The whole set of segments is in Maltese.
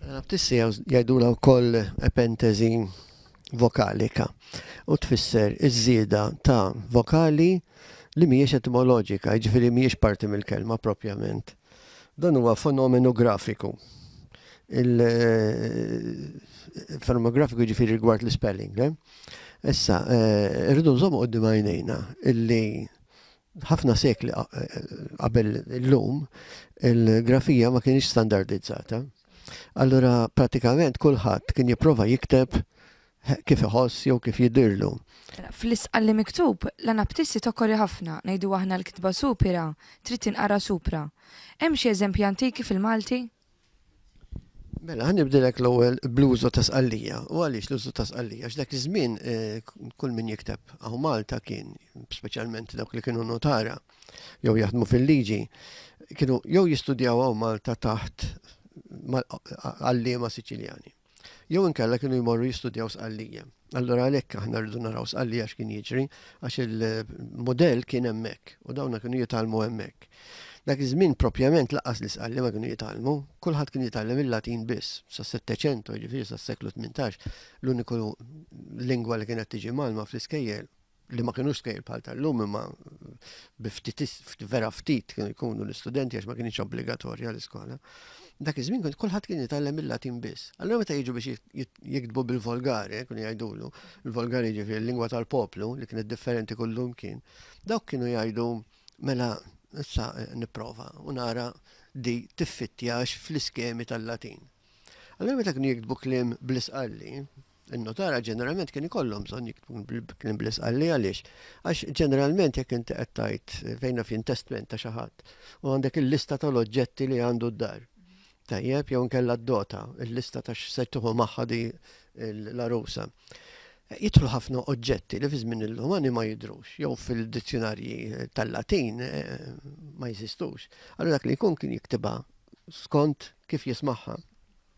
L-Anabtissi jgħidulha wkoll epentesi vokalika u tfisser iż-żieda ta' vokali li mhijiex etimoloġika, jiġifieri mhijiex parti mill-kelma proprjament. Dan huwa fenomenu grafiku, fenomenu grafiku jiġifieri rigward l-ispelling. Issa, irridu nżommu quddiem għajnejna illi Ħafna sekli qabel illum, il-grafija ma kienx standardizzata. Allura pratikament kulħadd kien jipprova jikteb kif iħoss jew kif jidirlu. Fl-isqalli miktub, l-anaptissi tokkori ħafna, ngħidu aħna l-kitba supira trid tinqara supra. Hemm xi eżempji antiki fil-Malti? Mela, għan nibdilek l-ewwel bluzu ta' sqallija. U għaliex l-użu ta' sqallija? X'dak iż-żmien eh, kull min jikteb għaw Malta kien, speċjalment dawk li kienu notara jew jaħdmu fil-liġi, kienu jew jistudjaw għaw Malta taħt għallima Siċiljani. jew inkella kienu jmorru jistudjaw Sqallija. Allura għalhekk aħna rridu naraw Sqallija x'kien jiġri għax il-mudell kien hemmhekk u dawna kienu jitalmu hemmhekk. Dak iż-żmien propjament laqas li Sqalli ma kienu jitalmu, kulħadd kien jitgħallem il-Latin biss, sa Setteċentu, jiġifieri sa seklu 18, l-uniku lingwa li kienet tiġi malma fl-iskejjel li ma kienux skejl bħal tal-lum imma vera ftit kienu jkunu l-istudenti għax ma kienx obbligatorja l-iskola. Dak iż-żmien kont kulħadd kien jitgħallem il-Latin biss. Allura meta jiġu biex jiktbu bil-Volgari, kienu jgħidulu, il-Volgari ġifieri l-lingwa tal-poplu li kienet differenti kullum kien, dawk kienu jgħidu mela issa nipprova u nara di tiffittjax fl-iskemi tal-Latin. Allura meta kienu jiktbu kliem bl-isqalli, In-notara ġeneralment kien ikollhom bżonn jiktbu kien bl-isqalli għaliex. Għax ġeneralment jekk inti qed tgħid fejn naf intestment ta' xi ħadd u għandek il-lista tal-oġġetti li għandu d-dar. Tajjeb, jew nkella d-dota, il-lista ta' x'se tieħu magħha di l-arusa. Jidħlu ħafna oġġetti li fi żmien il-Lumani ma jidrux, jew fil-dizzjonarji tal-Latin eh, ma jeżistux. Allura dak li jkun kien jiktibha skont kif jismaħħa.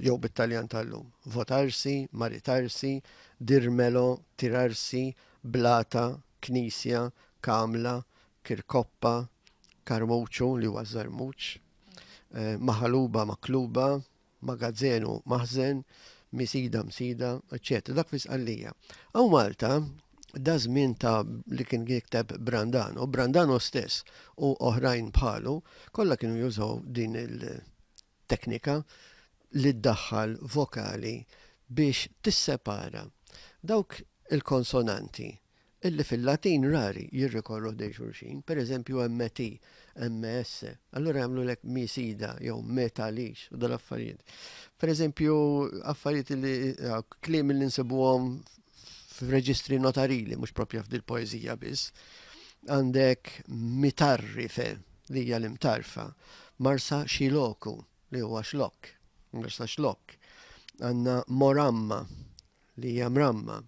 jew bit-Taljan tal-lum, votarsi, maritarsi, dirmelo, tirarsi, blata, knisja, kamla, kirkoppa, karmuċu, li huwa ż-żarmuċ, maħaluba, makluba, magazzenu, maħżen, misida, msida, eċċetera. Dak fi Sqallija. Hawn Malta da żmien ta' li kien jikteb Brandano, Brandano stess u oħrajn bħalu, kollha kienu jużaw din il- teknika li ddaħħal vokali biex tissepara dawk il-konsonanti li fil-Latin rari jirrikorru ħdejn xulxin, per eżempju MT, MS, allura jagħmlulek mi si da jew me ta lix u dal-affarijiet. Per eżempju, affarijiet li kliem li nsibuhom f'reġistri notarili, mhux propja f'dil poeżija biss, għandek mitarrife li hija l-imtarfa, marsa xiloku li huwa xlok, marsa xlok, għandna moramma li hija mramma,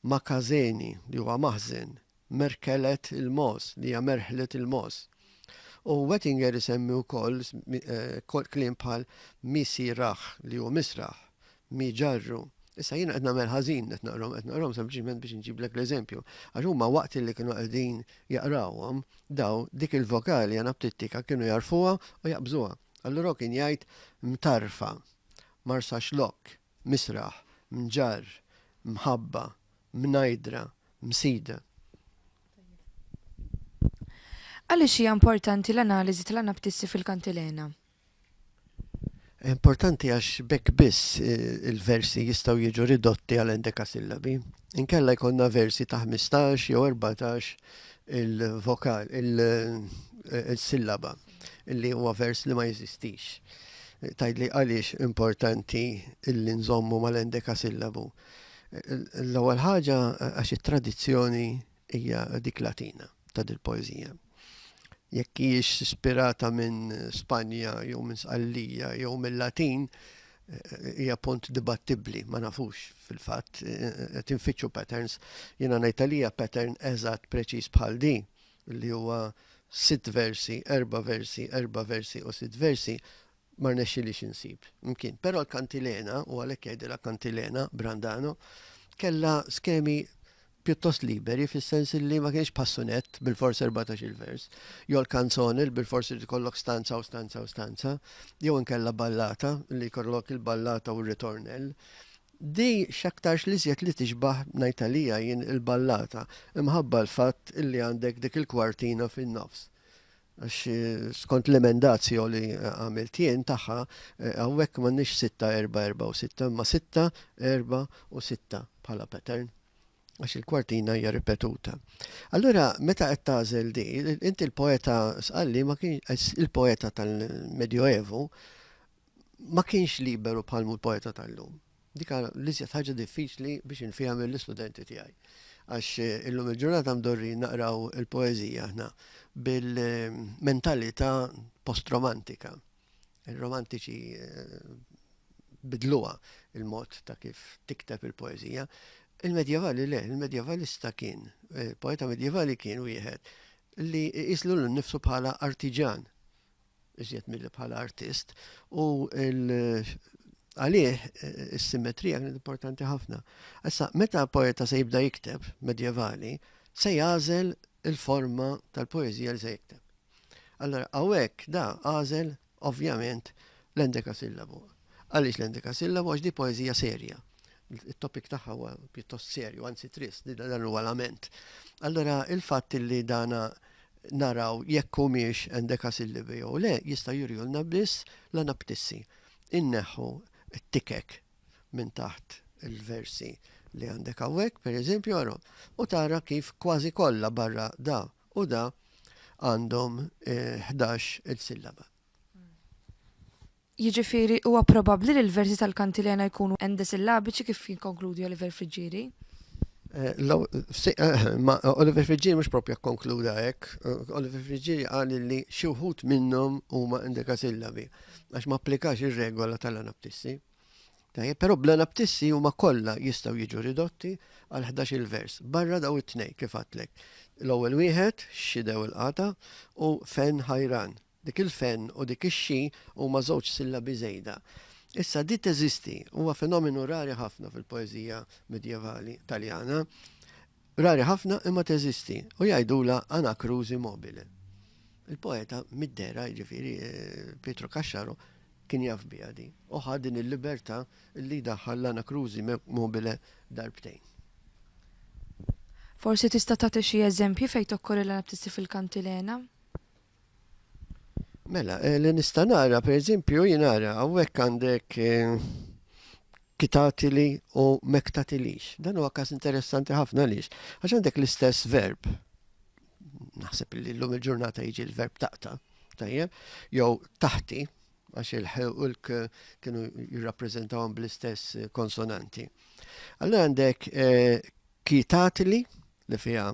makazeni li huwa maħzen, merkhelet il-mogħoż, li hija merħlet il-mogħoż. U Wettinger isemmi wkoll kliem bħal mi sirah, li hu misraħ, mi ġarru. Issa jiena qed nagħmel ħażin qed naqrhom, qed naqrhom sempliċiment biex inġiblek l-eżempju. Għax huma waqt li kienu qegħdin jaqrawhom, daw dik il-vokali anaptittika kienu jarfuha u jaqbżuha. Allura kien jgħid mtarfa, marsaxlokk, misraħ, mġarr, mħabba, mnajdra, msida. Għaliex hija importanti l-analiżi tal-anaptissi fil-kantilena? Importanti għax bekk biss eh, il-versi jistgħu jiġu ridotti għal endekasillabi. Inkella jkollna versi ta' 15 jew 14 il-vokal, il-sillaba. li huwa vers li ma jeżistix. Tajdli għaliex importanti illi nżommu mal-endeka sillabu. L-ewwel ħaġa għax it-tradizzjoni hija dik Latina ta' dil-poeżija. Jekk hijiex ispirata minn Spanja jew minn Sqallija jew mill-Latin, hija punt dibattibbli, ma nafux fil-fatt, qed infittxu patterns, jiena ngħid għalija pattern eżatt preċiż bħal din li huwa sitt versi, erba' versi, erba' versi u sitt versi, ma rnexxilix insib. Mkien, però l-kantilena, u għalhekk jgħidilha kantilena, Brandano, kella skemi pjuttost liberi fis-sens li ma kienx passunet bil-fors 14 il-vers, jew l-kanzone li bil-fors irid ikollok stanza u stanza u stanza, jew inkella ballata li jkollok il-ballata u r-ritornell. Di x'aktarx l-iżjed li tixbah, ngħid għalija jien, il-ballata, imħabba l-fatt illi għandek dik il-kwartina fin-nofs. Għax skont l-emendatio li għamilt jien tagħha, hawnhekk m'għandniex sitta, erbgħa, erbgħa u sitta, imma sitta, erbgħa u sitta bħala pattern, għax il-kwartina hija ripetuta. Allura meta qed tagħżel di, inti l-poeta Sqalli ma kienx il-poeta tal-Medjoevu, ma kienx liberu bħal mhu l-poeta tal-lum. Dik l-iżjed ħaġa diffiċli biex infiehem l-istudenti tiegħi. Għax eh, illum il-ġurnata mdorri naqraw il-poeżija aħna bil-mentalità post-romantika. Il-romantiċi eh, bidluha il-mod ta' kif tikteb il-poeżija. Il-medjevali le, il-medjevalista kien, eh, poeta medjevali kien wieħed li jislu l-nifsu bħala artiġan iżjed milli bħala artist, u għalih is-simmetrija kienet importanti ħafna. Issa, meta poeta se jibda jikteb, medjevali, se jażel il-forma tal-poezija li se jikteb. Allora, għawek da għażel, ovvjament, l-endeka sillabu. Għaliex l-endikasillabo? Għax di poeżija serja. It-topik tagħha huwa pjuttost serju, anzi trist, dan huwa lament. Allora il-fatt li dana naraw jekk humiex endekasillibi jew le jista' jurjulna biss la naptissi. Inneħħu t-tikek minn taħt il-versi li għandek hawnhekk, pereżempju, ara, u tara kif kważi kollha barra da u da għandhom 11 eh, il-sillaba. Jiġifieri, huwa probabbli li l-versi tal-Kantilena jkunu endesillabiċi kif jikkonkludi Oliver Friggieri? Ma Oliver Friggieri mhux proprja kkonkluda hekk. Oliver Friggieri qal li xi wħud minnhom huma endekasillabi għax ma applikax ir-regola tal-anaptissi. Tajjeb, però bl-anaptissi huma kollha jistgħu jiġu ridotti għal 11-il vers, barra daw it-tnejn kif għadtlek. L-ewwel wieħed, xidew il-qata, u fen ħajran, Dik il-fen u dik ix-xi huma żewġ sillabi żejda. Issa, di teżisti, huwa fenomenu rari ħafna fil-poeżija midjevali Taljana. Rari ħafna imma teżisti u jgħidulha anacrusi mobile. Il-poeta mid-dehra, jiġifieri Pietro Caxxaro, kien jaf biha din u ħa din il-libertà li jdaħħal l-anacrusi mobile darbtejn. Forsi tista' tagħti xi eżempji fejn tokkorri l-anaptissi fil-kantilena? Mela, eh, li nista' nara, per eżempju, jinara, hawnhekk għandek eh, kitatili u mektatilix. Dan huwa każ interessanti ħafna lix, għax għandek l-istess verb. Naħseb li l-lum il-ġurnata jiġi l-verb taqta, tajjeb, jew taħti, għax il-ħulk kienu jirrappreżentawhom bl-istess konsonanti. Allora għandek eh, kitatili li fiha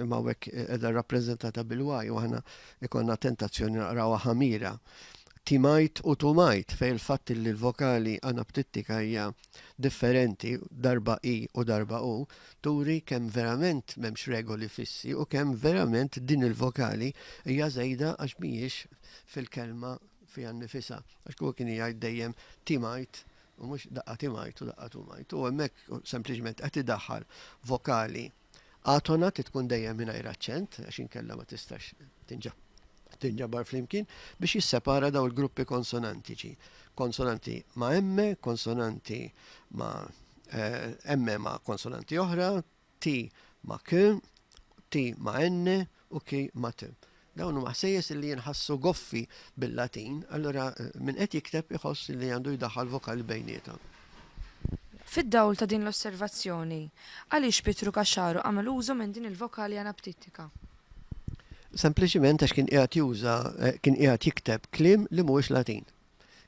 imma hawnhekk qiegħda rappreżentata bil-waj u aħna ikonna tentazzjoni naqrawha ħamira. Timajt u tumajt fej il-fatt li l-vokali anaptittika hija differenti darba i u darba u turi kemm verament m'hemmx regoli fissi u kemm verament din il-vokali hija żejda għax mhijiex fil-kelma fija nifisa. Għax kull kien jgħid dejjem timajt u mhux daqqa timajt u daqqa tumajt. U hemmhekk sempliċement qed idaħħal vokali Għatona trid tkun dejjem mingħajr aċċent għax inkella ma tistax tinġabar flimkien biex jissepara daw il-gruppi konsonantiċi. Konsonanti ma' emme, konsonanti ma' eh, emme ma' konsonanti oħra, ti ma' k, ti ma' enne, u chi matem. Dawn huma ħsejjes li jinħassu goffi bil-Latin, allura min qed jikteb iħoss li għandu jdaħħal vokali bejniethom. Fid-dawl ta' din l-osservazzjoni, għaliex Pietru Caxaro għamel użu minn din il-vokali anaptittika? Sempliċiment għax kien qiegħed juża, kien qiegħed jikteb kliem li mhuwiex Latin.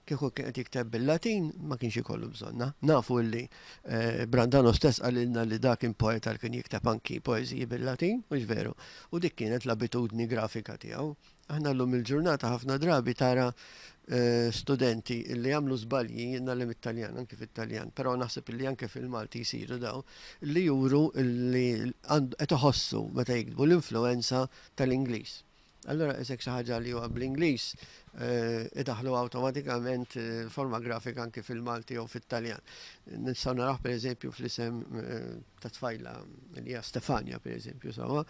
Kieku kien qed jikteb bil-Latin ma kienx ikollu bżonna. Nafu li eh, Brandano stess qalilna li dak kien poeta li kien jikteb anki poeżiji bil-Latin, mhux veru, u dik kienet l-abitudni grafika tiegħu. Aħna llum il-ġurnata ħafna drabi tara eh, studenti li jagħmlu żbalji jinnalem it-Taljan, anki fit-Taljan, però naħseb li anke fil-Malti jsiru daw, li juru li qed iħossu meta jiktbu l-influenza tal-Ingliż. Allura qis hekk xi ħaġa li huwa bl-Ingliż, idaħħlu awtomatikament forma grafika anki fil-Malti jew fit-Taljan. Nistgħu narawh pereżempju fl-isem ta' tfajla li hija Stefania pereżempju sewwa.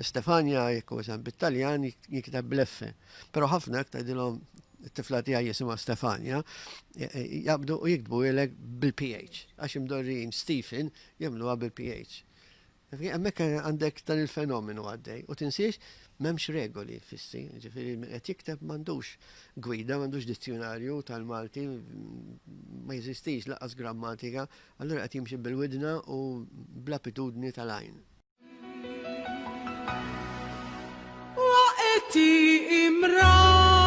Stefania jekk huwa isem bit-Taljan jinkiteb bl-F. Però ħafna jekk tgħidilhom it-tifla tiegħi jisimha Stefania, jaqbdu u jiktbuhielek bil-PH. Għax imdorrijin Stephen jagħmluha bil-PH. Hemmhekk għandek dan il-fenomenu għaddej u tinsiex m'hemmx regoli fissi, ġifieri min qed jikteb m'għandux gwida, m'għandux dizzjunarju tal-Malti, ma jeżistix laqas grammatika, allura qed jimxi bil-widna u bl-abitudni tal-għajn. Waqgħet hi imramti.